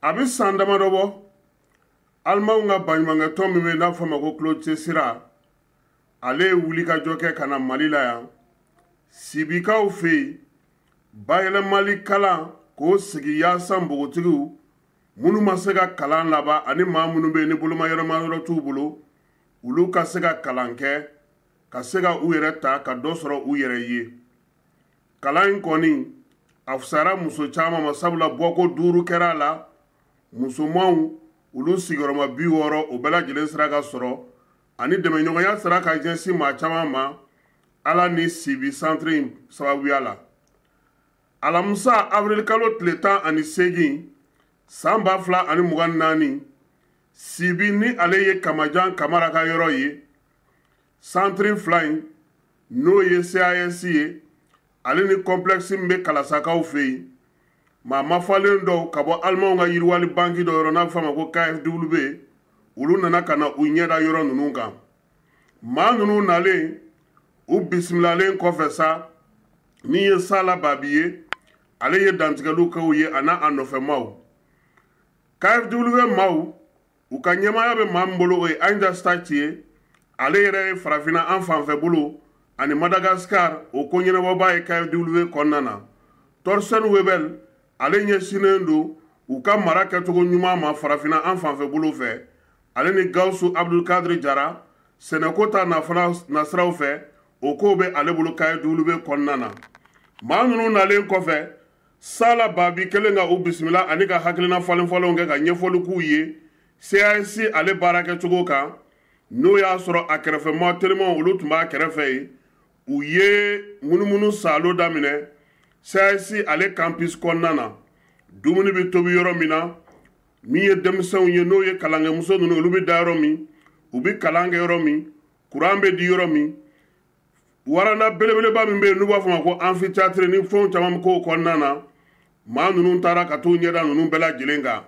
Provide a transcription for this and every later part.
a bɛ san damadɔ bɔ alimanw ka baɲumankɛtɔn min bɛ n'a fɔ ma ko klaus tschira ale ye wulikajɔ kɛ ka na mali la yan sibikaw fɛ yen bayɛlɛmali kalanko sigi yaasa npogotigiw minnu ma se ka kalan laban ani maa minnu bɛ ni bolomayɛlɛma yɔrɔ t'u bolo olu ka se ka kalan kɛ ka se ka u yɛrɛ ta ka dɔ sɔrɔ u yɛrɛ ye kalan in kɔni a fusara muso caman ma sabula bɔko duuru kɛra a la musomanw olu sigiyɔrɔma bi wɔɔrɔ o bɛɛ lajɛlen sera ka sɔrɔ ani dɛmɛɲɔgɔnya sera ka jɛnsi maa caman ma ala ni sibi santiri in sababuya la alamisa awirilikalo tile tan ani seegin san ba fila ani mugan naani sibi ni ale ye kamajan kamara ka yɔrɔ ye santiri fila in n'o ye cas ye ale ni kɔnplɛkisi min bɛ kalasakaw fɛ yen maa mafalen dɔw ka bɔ alimanw ka yiriwali banki dɔ yɔrɔ n'a bɛ f'a ma ko kfw olu nana ka na u ɲɛda yɔrɔ ninnu kan maa ninnu nalen u bisimilalen kɔfɛ sa min ye sala babi ye ale ye dantigɛliw kɛ u ye a n'a nɔfɛmaw kfw maw u ka ɲɛmaya bɛ maa min bolo o ye anja stark ye ale yɛrɛ ye farafinna an fanfɛ bolo ani madagascar o ko ɲɛnabɔbaa ye kfw kɔnɔna na torsten webel ale ɲɛsinnen don u ka mara kɛcogo ɲuman ma farafinna an fanfɛ bolo fɛ ale ni gawusu abdulkadiri jara sɛnɛko ta nasiraw fɛ o ko bɛ ale bolo kfw kɔnɔna na maa ninnu nalen kɔfɛ sala babi kelen ka u bisimila ani ka hakilina falenfalenw kɛ ka ɲɛfɔli k'u ye cas ale baara kɛcogo kan n'o y'a sɔrɔ a kɛrɛfɛmaa telimanw olu tun b'a kɛrɛfɛ yen u ye munumunu saalo daminɛ cas ale campus kɔnɔna na dumuni bɛ tobi yɔrɔ min na min ye denmisɛnw ye n'o ye kalankɛmuso ninnu olu bɛ da yɔrɔ min u bɛ kalan kɛ yɔrɔ min kuran bɛ di yɔrɔ min waranda belebeleba min bɛ yen n'u b'a fɔ ma ko amphithéâtre ni fɛnw caman bɛ k'o kɔnɔna na maa ninnu taara ka t'u ɲɛda ninnu bɛɛ lajɛlen kan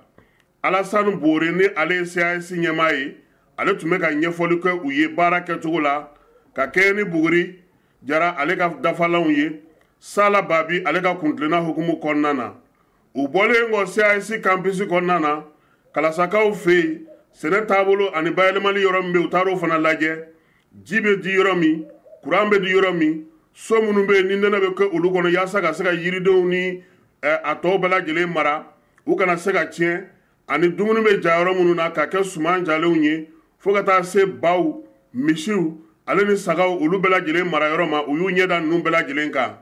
alasani boore ni ale ye cas ɲɛmaa ye ale tun bɛ ka ɲɛfɔli kɛ u ye baara kɛcogo la ka kɛɲɛ ni buguri jara ale ka dafalanw ye sala babi ale ka kuntilenna hukumu kɔnɔna na u bɔlen kɔ cas kanpisi kɔnɔna na kalasakaw fɛ yen sɛnɛ taabolo ani bayɛlɛmali yɔrɔ min bɛ u taara o fana lajɛ ji bɛ di yɔrɔ min kuran bɛ di yɔrɔ min so minnu bɛ yen ni nɛnɛ bɛ kɛ olu kɔnɔ yaasa ka se ka yiridenw ni eh, a tɔw bɛɛ lajɛlen mara u kana se ka tiɲɛ ani dumuni bɛ ja yɔrɔ minnu na ka kɛ suman jalenw ye fo ka taa se baw misiw ale ni sagaw olu bɛɛ lajɛlen mara yɔrɔ ma u y'u ɲɛda ninnu bɛɛ lajɛlen kan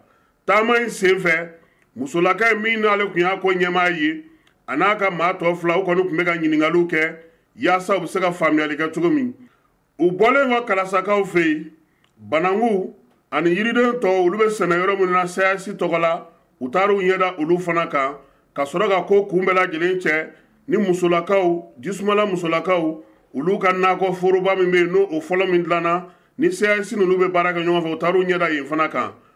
taama in sen fɛ musolaka in min n'ale tun y'a ko ɲɛmaa ye a n'a ka maa tɔ fila u kɔni tun bɛ ka ɲiningaliw kɛ yaasa u bɛ se ka faamuyali kɛ cogo min u bɔlen kɔ kalasakaw fɛ yen bananku ani yiriden tɔw olu bɛ sɛnɛ yɔrɔ minnu na caas tɔgɔ la u taara u ɲɛda olu fana kan ka sɔrɔ ka ko kun bɛɛ lajɛlen cɛ ni musolakaw jisumala musolakaw olu ka nakɔ foroba min bɛ yen n'o fɔlɔ min dilanna ni caas ninnu bɛ baara kɛ ɲɔgɔn fɛ u taara u ɲɛda yen fana kan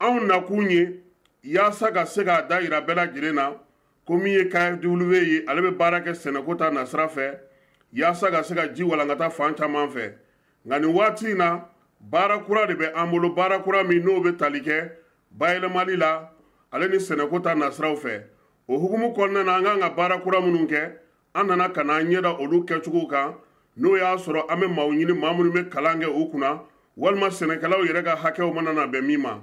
anw nakun ye yaasa ka se k'a da yira bɛɛ lajɛlen na ko min ye kfw ye ale bɛ baara kɛ sɛnɛko ta nasira fɛ yaasa ka se ka ji walankata fan caman fɛ nka nin waati in na baara kura de bɛ an bolo baara kura min n'o bɛ tali kɛ bayɛlɛmali la ale ni sɛnɛko ta nasiraw fɛ o hukumu kɔnɔna na an kan ka baara kura minnu kɛ an nana ka n'an ɲɛda olu kɛcogo kan n'o y'a sɔrɔ an bɛ maaw ɲini maa minnu bɛ kalan kɛ u kunna walima sɛnɛkɛlaw yɛrɛ ka hakɛw mana na bɛn min ma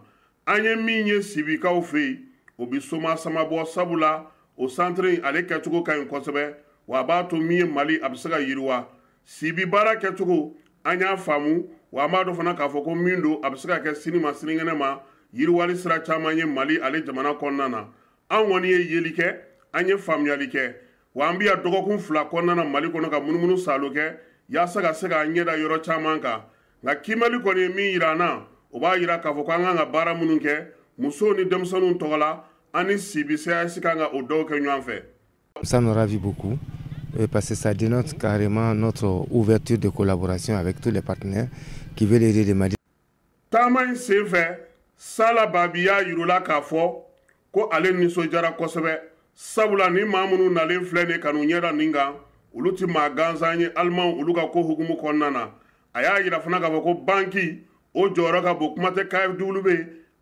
an ye min ye sibikaw fɛ yen o bɛ soma sama bɔ sabula o santiri in ale kɛcogo ka ɲi kosɛbɛ wa a b'a to min ye mali a bɛ se ka yiriwa sibi baara kɛcogo an y'a faamu wa an b'a dɔn fana k'a fɔ ko min don a bɛ se ka kɛ sini ma sinikɛnɛ ma yiriwali sira caman ye mali ale jamana kɔnɔna na an kɔni ye yeli kɛ an ye faamuyali kɛ wa an bɛ yan dɔgɔkun fila kɔnɔna na mali kɔnɔ ka munumunu saalo kɛ yaasa ka se k'an ɲɛda yɔrɔ caman kan nka kiimɛli kɔni ye min yira an na o b'a yira k'a fɔ ko an kan ka baara minnu kɛ musow ni denmisɛnninw tɔgɔ la an ni sibi caas kan ka o dɔw kɛ ɲɔgɔn fɛ Ça nous ravit beaucoup euh, parce que ça dénote carrément notre ouverture de collaboration avec tous les partenaires qui veulent aider le Mali. taama in sen fɛ sala babi y'a yira u la k'a fɔ ko ale nisɔndiyara kosɛbɛ sabula nin maa minnu nalen filɛ nin ka n'u ɲɛda nin kan olu tɛ maa gansan ye alimanw olu ka ko hukumu kɔnɔna na a y'a yira fana k'a fɔ ko banki o jɔyɔrɔ ka bon kuma tɛ kfw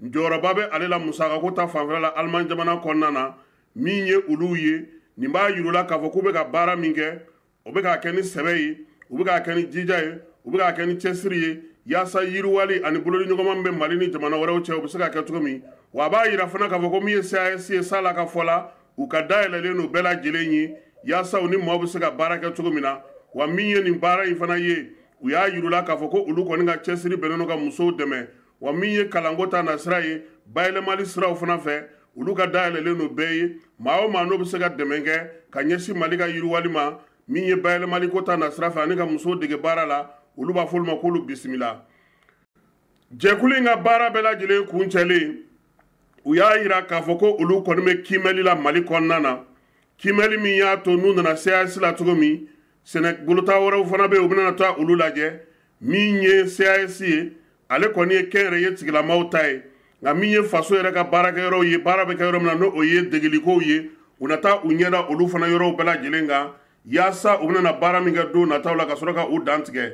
jɔyɔrɔba bɛ ale la musakako ta fanfɛla la aliman jamana kɔnɔna na min ye olu ye nin b'a yira u la k'a fɔ k'u bɛ ka baara min kɛ o bɛ k'a kɛ ni sɛbɛ ye u bɛ k'a kɛ ni jija ye u bɛ k'a kɛ ni cɛsiri ye yaasa yiriwali ani bolodiɲɔgɔnma min bɛ mali ni jamana wɛrɛw cɛ u bɛ se ka kɛ cogo min wa a b'a yira fana k'a fɔ ko min ye caas ye sala ka fɔ la u ka da yɛlɛlen don bɛɛ lajɛlen ye yaasa u ni maaw bɛ se ka baara kɛ cogo min na wa min ye nin baara in fana ye u y'a yira u la k'a fɔ ko olu kɔni ka cɛsiri bɛnnen don ka musow dɛmɛ wa min ye kalanko ta nasira ye bayɛlɛmali siraw fana fɛ olu ka da yɛlɛlen don bɛɛ ye maa o maa n'o bɛ se ka dɛmɛ kɛ ka ɲɛsin mali ka yiriwali ma min ye bayɛlɛmali ko ta nasira fɛ ani ka musow dege baara la olu b'a f'olu ma k'olu bisimila jɛkulu in ka baara bɛɛ lajɛlen kuncɛlen u y'a yira k'a fɔ ko olu kɔni bɛ kiimɛli la mali kɔnɔna na kiimɛli min y'a to n'u nana caas la cogo min sɛnɛ bolota wɛrɛw fana bɛ u bɛna taa olu lajɛ min ye cas ye ale kɔni ye kɛnyɛrɛye tigilamaw ta ye nka min ye faso yɛrɛ ka baarakɛyɔrɔw ye baara bɛ kɛ yɔrɔ min na n'o o ye degelikow ye u na taa u ɲɛda olu fana yɔrɔw bɛɛ lajɛlen kan yaasa u bɛna baara min kɛ don nataw la ka sɔrɔ ka u dantigɛ